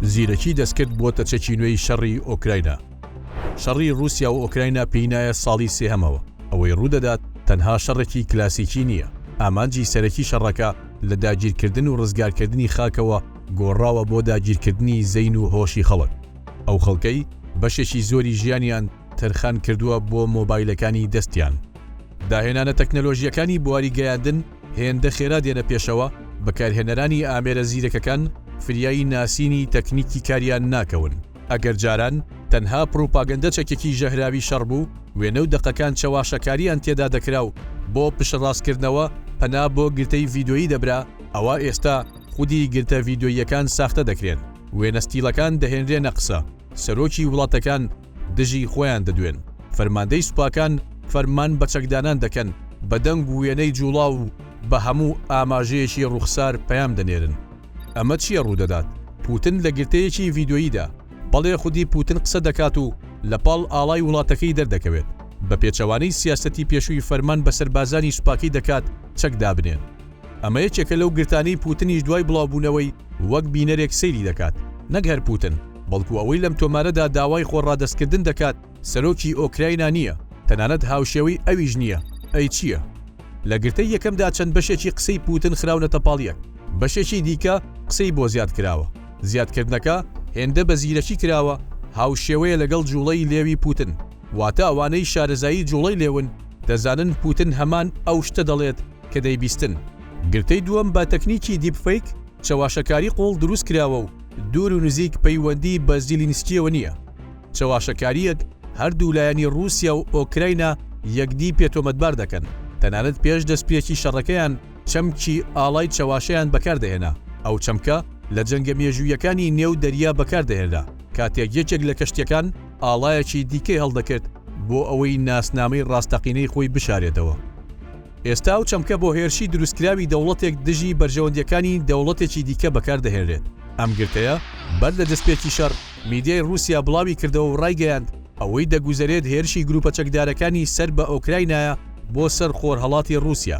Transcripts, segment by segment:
زیرەکی دەستکرد بووەتە چەکی نوێی شەڕی ئۆکراینا شەڕی رووسیا و ئۆکراینا پینایە ساڵی سێهەمەوە ئەوەی ڕوودەدات تەنها شەڕێکی کلاسیکی نییە ئامانجی سەرەکی شەڕەکە لە داگیرکردن و ڕزگارکردنی خاکەوە گۆڕاوە بۆ داگیرکردنی زەین و هۆشی خەڵک ئەو خەڵکەی بەشێکی زۆری ژیانیان تەرخان کردووە بۆ مۆبایلەکانی دەستیان. داهێنانە تەکنەلۆژییەکانی بواری گەیاندن هێندە خێرا دێنە پێشەوە، بەکارهێنەرانی ئامێرە زیرەکەکان فریای ناسینی تەکنیکی کاریان ناکەون. ئەگەر جاران تەنها پڕوپاگەندە چەکێکی ژەهراوی شەڕ بوو، وێنە و دەقەکان چەواشەکارییان تێدا دەکرا و بۆ پشتڕاستکردنەوە پەنا بۆ گرتەی ڤیدۆیی دەبرا، ئەوا ئێستا خودی گرتە ڤیدۆییەکان ساختە دەکرێن، وێنە ستیڵەکان دەهێنرێنە قسە. سەرۆکی وڵاتەکان دژی خۆیان دەدوێن، فەرماندەی سوپاکان فەرمان بە چەکدانان دەکەن، بە دەنگ و وێنەی جوڵاو و بە هەموو ئاماژەیەکی ڕووخسار پەیام دەنێرن. ئەمە چییە ڕوودەدات؟ پوتن لە گرتەیەکی ڤیدیۆییدا، بەڵێ خودی پوتن قسە دەکات و لەپاڵ ئاڵای وڵاتەکەی دەردەکەوێت، بە پێچەوانەی سیاسەتی پێشووی فەرمان بە سەربازانی سوپاکەی دەکات چەک دابنێن. ئەمە یەکێکە لەو گرتانەی پوتنیش دوای بڵاوبوونەوەی وەک بینەرێک سەیری دەکات، نەک هەر پوتن، بەڵکو ئەوەی لەم تۆمارەدا داوای خۆ ڕادەستکردن دەکات سەرۆکی ئۆکراینا نییە، تەنانەت هاوشێوەی ئەویش نییە، ئەی چییە؟ لە گرتەی یەکەمدا چەند بەشێکی قسەی پوتن خراونەتە پاڵ یەک، بەشێکی دیکە قسەی بۆ زیاد کراوە، زیادکردنەکە هێندە بە زیرەکی کراوە هاوشێوەیە لەگەڵ جوڵەی لێوی پوتن، واتە ئەوانەی شارەزایی جوڵەی لێون دەزانن پوتن هەمان ئەو شتە دەڵێت، کە دەیبیستن. گرتەی دووەم بە تەکنیکی دیپفەیک، چەواشەکاری قووڵ دروست کراوە و دوور و نزیک پەیوەندی بە زیلینسکییەوە نییە. چەواشەکارییەک هەردوو لایەنی ڕووسیا و ئۆکراینا یەکدی پێ تۆمەتبار دەکەن. تەنانەت پێش دەستپێکی شەڕەکەیان چەمکی ئاڵای چەواشەیان بەکار دەهێنا. ئەو چەمکە لە جەنگە مێژوویەکانی نێو دەریا بەکار دەهێنرا کاتێک یەکێک لە کەشتییەکان، ئاڵایەکی دیکەی هەڵدەکرد بۆ ئەوەی ناسنامەی ڕاستەقینەی خۆی بشارێتەوە. ئێستا ئەو چەمکە بۆ هێرشی دروستکراوی دەوڵەتێک دژی بەرژەوەندییەکانی دەوڵەتێکی دیکە بەکاردەهێنرێت. ئەم گرتەیە بەر لە دەستپێکی شەڕ، میدیای ڕووسیا بڵاویکردەوە و ڕایگەیاند، ئەوەی دەگوزەرێت هێرشی گرووپە چەکدارەکانی سەر بە ئۆکراینایە بۆ سەر خۆرهەڵاتی ڕووسیا.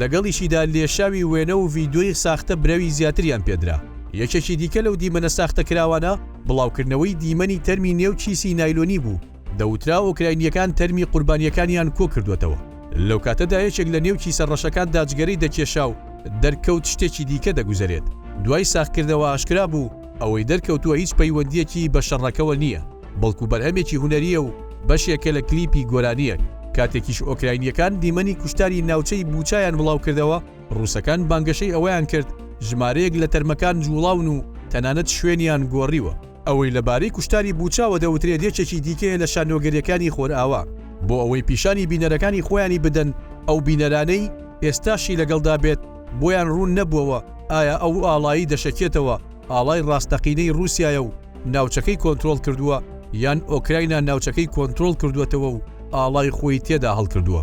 لەگەڵیشیدا لێشاوی وێنە و ڤیدیۆی ساختە برەوی زیاتریان پێدرا. یەکێکی دیکە لەو دیمەنە ساختەکراوانە، بڵاوکردنەوەی دیمەنی تەرمی نێو کیسی نایلۆنی بوو، دەوترا ئۆکراینییەکان تەرمی قوربانییەکانیان کۆکردووەتەوە، لەو کاتەدا یەکێک لە نێو کیسە ڕەشەکاندا جگەرەی دەکێشا و دەرکەوت شتێکی دیکە دەگوزەرێت، دوای ساغکردنەوە ئاشکرا بوو ئەوەی دەرکەوتووە هیچ پەیوەندییەکی بە شەڕەکەوە نییە. بەڵکو بەرهەمێکی هونەرییە و بەشێکە لە کلیپی گۆرانییەک، کاتێکیش ئۆکراینییەکان دیمەنی کوشتاری ناوچەی بوچایان بڵاوکردەوە، ڕووسەکان بانگەشەی ئەوەیان کرد ژمارەیەک لە تەرمەکان جووڵاون و تەنانەت شوێنیان گۆڕیوە. ئەوەی لەبارەی کوشتاری بوچاوە دەوترێت یەکێکی دیکەیە لە شانۆگەرییەکانی خۆرئاوا، بۆ ئەوەی پیشانی بینەرەکانی خۆیانی بدەن، ئەو بینەرانەی ئێستاشی لەگەڵدا بێت بۆیان ڕوون نەبووەوە ئایا ئەو ئاڵایی دەشەکێتەوە ئاڵای ڕاستەقینەی ڕووسیایە و، ناوچەکەی کۆنترۆڵ کردووە یان ئۆکراینا ناوچەکەی کۆنترۆڵ کردووەتەوە و ئاڵای خۆی تێدا هەڵکردووە.